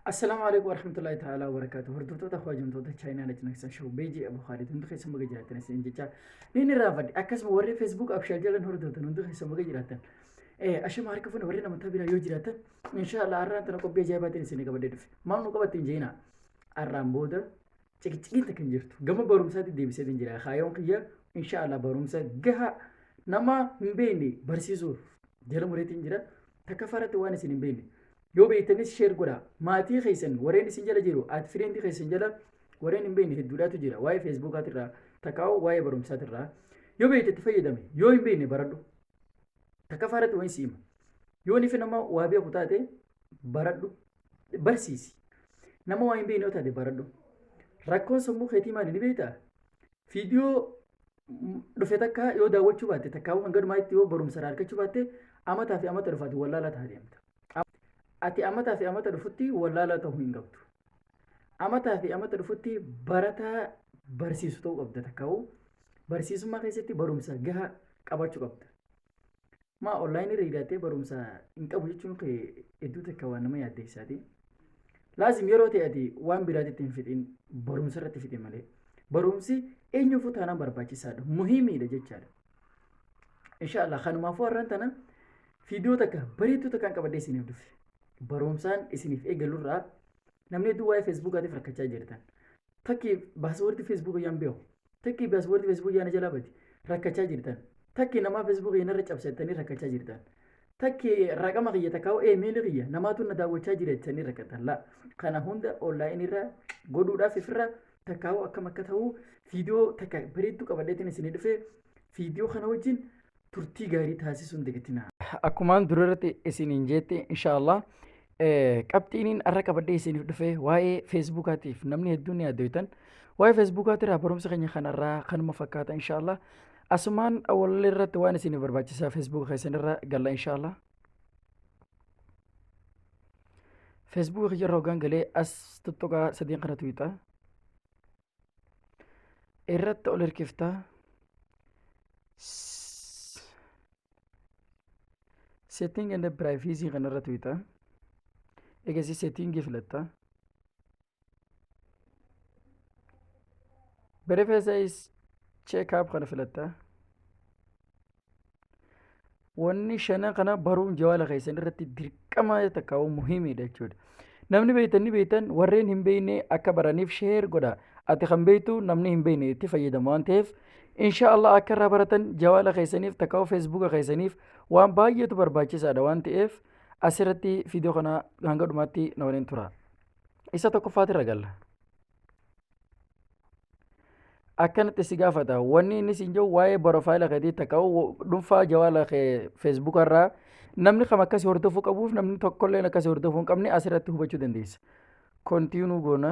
Assalaamu alaikum warahmatullahi ta'ala wabarakatuh. Hordoftoota hojjamtoota Chaayinaa Lach Naksan Show Beejii Abu Khaalid hundi keessa maga jiraatan isin jecha ni ni raafadhe akkasuma warri Facebook abshaa jalan hordoftan hundi keessa maga jiraatan. Eh ashama harka fuune warri namoota biraa yoo jiraatan inshaallah har'aan tana qophii ajaa'ibaatiin isin qabadee dhufe. Maal nu qabattiin jeena? Har'aan booda ciqiciqiin takka hin jirtu. Gama barumsaatti deebisee hin jira. Kaayoon kiyya inshaallah barumsa gahaa nama hin beekne barsiisuuf jala mureetiin jira. Takka faratti waan isin hin beekne. Yoo beektanis share godhaa. Maatii keessan warreen isin jala jiru at friend keessan jala warreen hin beekne hedduudhaatu jira. Waa'ee Facebookaatirraa takkaa'u waa'ee barumsaatirraa. Yoo beekte itti fayyadami. Yoo hin beekne baradhu. Takkaffaa irratti wayin si hima. Yoo nifi nama waa beeku taate baradhu. Barsiisi. Nama waa hin beekne yoo taate baradhu. Rakkoon sammuu keetii maali ni beektaa? Viidiyoo dhufe takka yoo daawwachuu baatte takkaawuu hanga dhumaatti yoo barumsa irraa argachuu baatte amataa fi amata dhufaati wallaalaa ta'a deemta. qabdi. Ati amataa fi amata dhufutti wallaalaa ta'uu hin qabdu. Amataa fi amata dhufutti barataa barsiisu ta'uu qabda takka'u barsiisummaa keessatti barumsa gahaa qabaachuu qabda. Maa onlaayinii irra hidhattee barumsa hin qabu jechuun kee hedduu takka waan nama yaaddeessaati. Laazim yeroo ta'e ati waan biraatitti hin fixin barumsa irratti fixi malee. Barumsi eenyuufuu taanaan barbaachisaadha. Muhiimiidha jechaadha. Inshaallah kanumaafuu har'aan tana fiidiyoo takka bareedduu takkaan qabadhee isiniif dhufe. Barumsaan isiniif eegalurraa namni hedduu waa'ee feesbuukaatiif rakkachaa jirtan. Takki baaswardi feesbuuka yaan beeku. Takki baaswardi feesbuuka yaana jalaa bade rakkachaa jirtan. Takki namaa feesbuuka yaanarra cabsattanii rakkachaa jirtan. Takki raqama kiyya takkaa eemeeli kiyya namaatu na daawwachaa jira jettanii rakkatan laa. Kana hunda onlaayinirra godhuudhaaf ifirra takkaawuu akkam akka ta'uu viidiyoo takka bareedduu qabadheetiin isinii dhufe viidiyoo kana wajjin turtii gaarii taasisuun dagatina. Akkumaan durarratti isiniin jeette inshaallah qabxiiniin arra qabadhee isiniif dhufe waa'ee feesbuukaatiif namni hedduun ni addooytan waa'ee feesbuukaatirraa barumsa keenya kanarraa kanuma fakkaata inshaallah asumaan wallee irratti waan isiniif barbaachisaa feesbuuka keessanirra galla inshaallah. feesbuukii kiyya irra hoggaan galee as tuttuqaa sadiin kana tuyxa irratti ol hirkifta setting and privacy kana irra tuyxa egasii setting filatta Berifacees check-up kana filatta. Wanni shanan kana baruun jawaala keessan irratti dirqama takka waan muhiimidha jechuudha. Namni beektan ni beektan warreen hin beekne akka baraniif sheer godha. Ati kan beektu namni hin beekne itti fayyadama waan ta'eef inshaallah akka irraa baratan jawaala keessaniif takka feesbuuka keessaniif waan baay'eetu barbaachisaadha waan ta'eef asirratti viidiyoo kana hanga dhumaatti na waliin tura. Isa tokkoffaatirra galla. Akkanatti si gaafata. Wanni inni siin jedhu waa'ee borofaayila keetii takka dhuunfaa jawaala kee feesbuuka irraa namni kam akkasii hordofuu qabuuf namni tokkollee akkasii hordofuu hin qabne asirratti hubachuu dandeessa. Kontiinuu goona.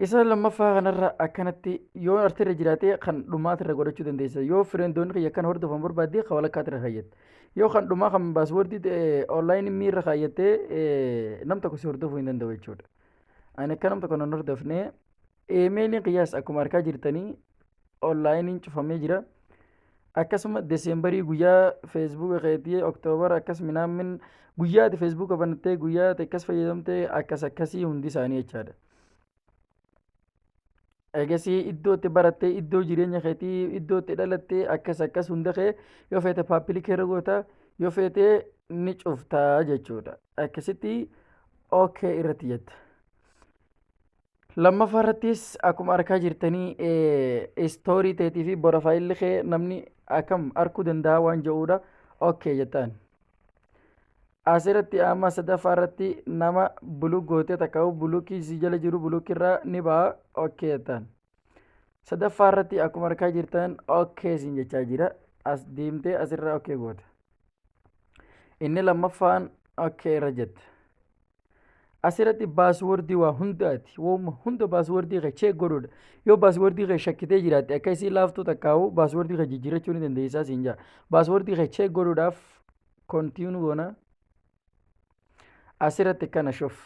Isa lammaffaa kanarra akkanatti yoo artirra jiraatee kan dhumaatirra godhachuu dandeessa. Yoo fireendoonni kiyya kan hordofan barbaaddee kan walakkaatirra kaayyatte. Yoo kan dhumaa kan baaswordii ta'e online miirra kaayyattee eh, nam tokko si hordofuu hin danda'u jechuudha. Ani akka nam tokko nan hordofne eemeeliin kiyyaas akkuma arkaa jirtanii onlaayiniin cufamee jira. Akkasuma deseembarii guyyaa feesbuuka keetii oktoobara akkas minaamin guyyaa ati feesbuuka banattee guyyaa ati akkas fayyadamtee akkas akkasii hundi isaanii jechaadha. eegasii iddoo itti barattee iddoo jireenya keetii iddoo itti dhalattee akkas akkas hunda kee yoo feete paappilikii irra goota yoo feete ni cufta jechuudha akkasitti ok irratti jetta lammaffaa irrattis akkuma arkaa jirtanii istoorii teetii fi borofaayilli kee namni akkam arkuu danda'a waan jedhuudha ok jettaan asiratti amma sadaffaa irratti nama buluk gootee takka bulukii si jala jiru bulukirraa ni ba'a okkee jettaan sadaffaa irratti akkuma argaa jirtan okkee siin jechaa jira as deemtee asirra okkee goota inni lammaffaan okkee irra jette Asirratti baaswordii waa hundaati. Wooma hunda baaswordii kee cheek godhuudha. Yoo baaswordii kee shakkitee jiraatte akka isii laaftuu takkaa'u baaswordii kee jijjiirrachuu ni dandeessaa siin jaa. Baaswordii kee cheek godhuudhaaf kontiinu goona. Asirratti kana shuf.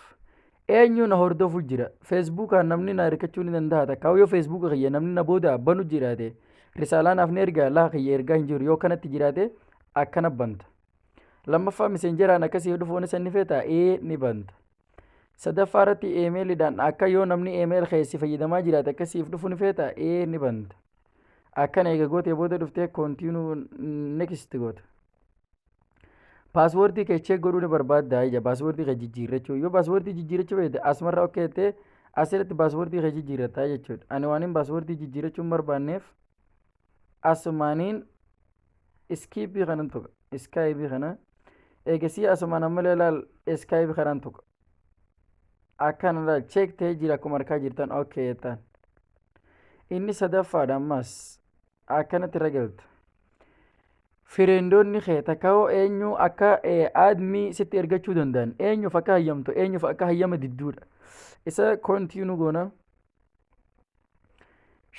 Eenyu na hordofuu jira. Feesbuukaan namni na hirkachuu ni danda'a takkaa'u yoo feesbuuka kiyya namni na booda banu jiraate risaalaa naaf ni ergaa laa kiyya ergaa hin jiru yoo kanatti jiraate akkana banta. lammaffaa miseenjeraan akka siif dhufuun isa ni feeta ee ni banta sadaffaa irratti eemeelidhaan akka yoo namni eemeel keessi fayyadamaa jiraate akka siif dhufu ni feeta ee ni banta akkana eega gootee booda dhuftee koontiinuu next goota paaswoordii kee cheek godhuu ni barbaadda ija paaswoordii kee jijjiirrachuu yoo paaswoordii jijjiirrachuu beekte asumarra ok jettee asirratti paaswoordii kee jijjiirratta jechuudha ani waanin paaswoordii jijjiirrachuu hin barbaanneef asumaaniin iskiippii kanan tuqa iskaayibii kana eegasii asumaan ammallee laal iskaayibii kanan tuqa akkana laal cheek ta'ee jira akkuma arkaa jirtan ok jettaan inni sadaffaadha ammas akkanatti irra galta fireendoonni kee takkaoo eenyu akka aadmii sitti ergachuu danda'an eenyuuf akka hayyamtu eenyuuf akka hayyama didduudha isa kontiinu goona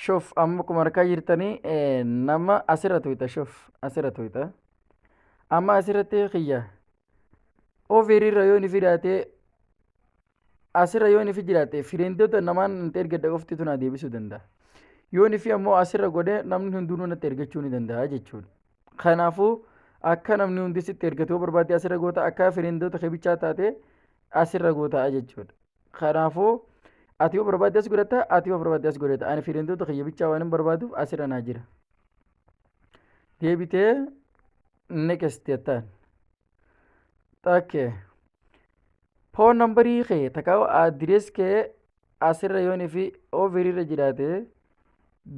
Shuf amma kuma harkaa jirtanii eh, nama asirra tuyta shuf asirra tuyta. Amma asirratti kiyya ofiirra yoo ni fidaatee asirra yoo ni fi jiraate firiindota namaan nuti ergadda qofti tun deebisuu danda'a. Yoo ni fi ammoo asirra godhee namni hundinuu natti ergachuu ni danda'a jechuudha. Kanaafuu akka namni hundi sitti ergatu yoo barbaade asirra goota akka firiindota kibichaa taate asirra goota jechuudha. Kanaafuu ati yoo barbaadde as godhatta ati yoo barbaadde as godhatta ani fiilentoota kiyya bichaa waan hin barbaaduuf asirra naa jira. Deebitee next jettaan. Takkee. Foon nambarii kee takkaa adirees kee asirra yoon fi ofirii irra jiraate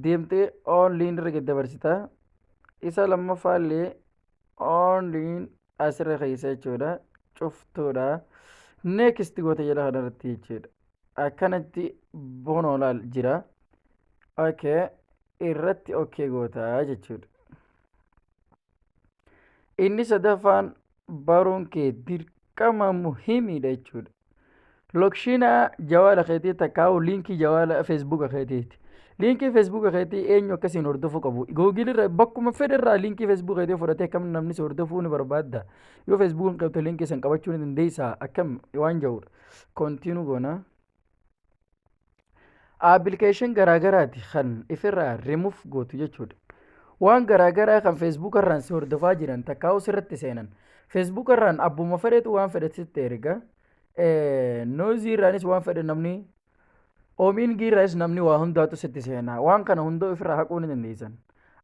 deemtee oonliin irra gad dabarsita. Isa lammaffaa illee oonliin asirra keessa jechuudha cuftuudha next goota jedha kanarratti jechuudha akkanatti bonoolaal jira okay irratti okay goota jechuudha inni sadaffaan baruun kee dirqama muhiimiidha jechuudha Lokshiina jawaala keetii takkaa'u liinkii jawaala feesbuuka keetiiti. Liinkii feesbuuka keetii eenyu akkasiin hordofuu qabu. Googil irra bakkuma fedhe irraa liinkii feesbuuka keetii fudhatee akkam namni si hordofuu ni barbaadda. Yoo feesbuuka hin qabte liinkii san qabachuu ni dandeessa akkam waan jedhudha. Kontiinuu goona. appilikeeshin garaagaraati kan ifirraa rimuuf gootu jechuudha. Waan garaagaraa kan feesbuuk irraan si hordofaa jiran takkaa irratti seenan feesbuuk irraan abbuma fedhetu waan fedhe sitti erga noozii irraanis waan fedhe namni oomiingii irraas namni waa hundaatu sitti seena waan kana hundoo ifirraa haquu ni dandeessan.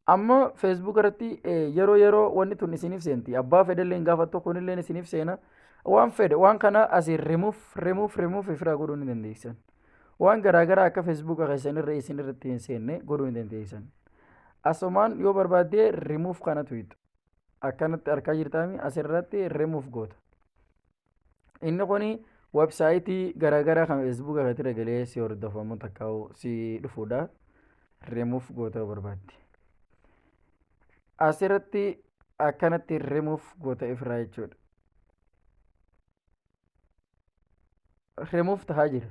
Amma Facebook irratti yeroo yeroo wanni tun isiniif seenti. Abbaa fedhallee hin gaafattu kunillee isiniif seena. Waan fedhe waan kana asiin remove remove remove ofirraa godhuu ni dandeessan. Waan garaagaraa akka Facebook keessan irra isin irratti hin seenne godhuu ni dandeessan. Asumaan yoo barbaadde remove kana tuqxu. Akkanatti argaa jirtaami asirratti remove goota. inni kun websaayitii garaagaraa kan feesbuuka irratti galee si hordofamu takka si dhufuudha rimuuf goota barbaadde asirratti akkanatti rimuuf goota ifraa jechuudha rimuuf tahaa jira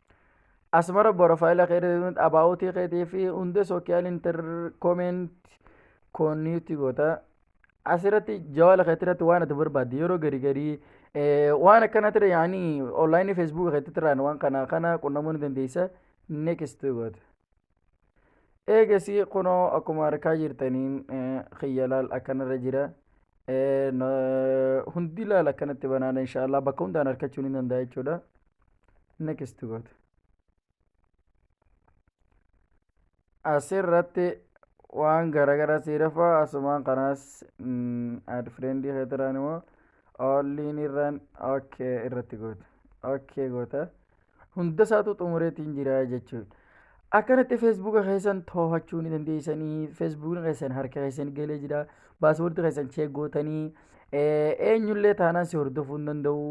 asmara borofaayila keetii abaawutii keetii fi hundee sookiyaal interkoomeent koonniitti goota asirratti jawaala keetii irratti waan ati barbaadde yeroo garii garii waan akkana ture yaanii onlaayinii feesbuuka keetii irraan waan kana kana qunnamuu ni dandeessa neekist goota. eegasii kunoo akkuma harkaa jirtaniin kiyya laal akkanarra jira hundi laal akkanatti banaadha inshaallah bakka hundaan harkachuu ni danda'a jechuudha next goota asirratti waan garagaraa siirafa asumaan kanaas ad friendii keetiraan immoo olliin irraan ok irratti goota ok goota hunda isaatu xumureetiin jira jechuudha. Akkanatti feesbuuka keessan to'achuu ni dandeessanii feesbuukni keessan harka keessan galee jira baaswoordi keessan cheek gootanii eenyullee taanaan si hordofuu hin danda'u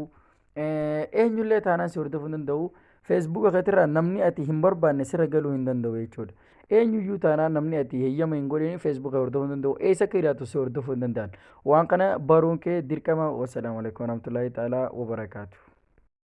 eenyullee taanaan si hordofuu hin danda'u feesbuuka keetirraa namni ati hin barbaanne sirra galuu hin danda'u jechuudha. Eenyuyyuu taanaan namni ati heyyama hin godhin feesbuuka hordofuu hin danda'u eessa akka jiraatu si hordofuu hin danda'an waan kana baruun kee dirqama wasalaamu alaikum warahmatullaahi ta'aalaa wabarakaatu.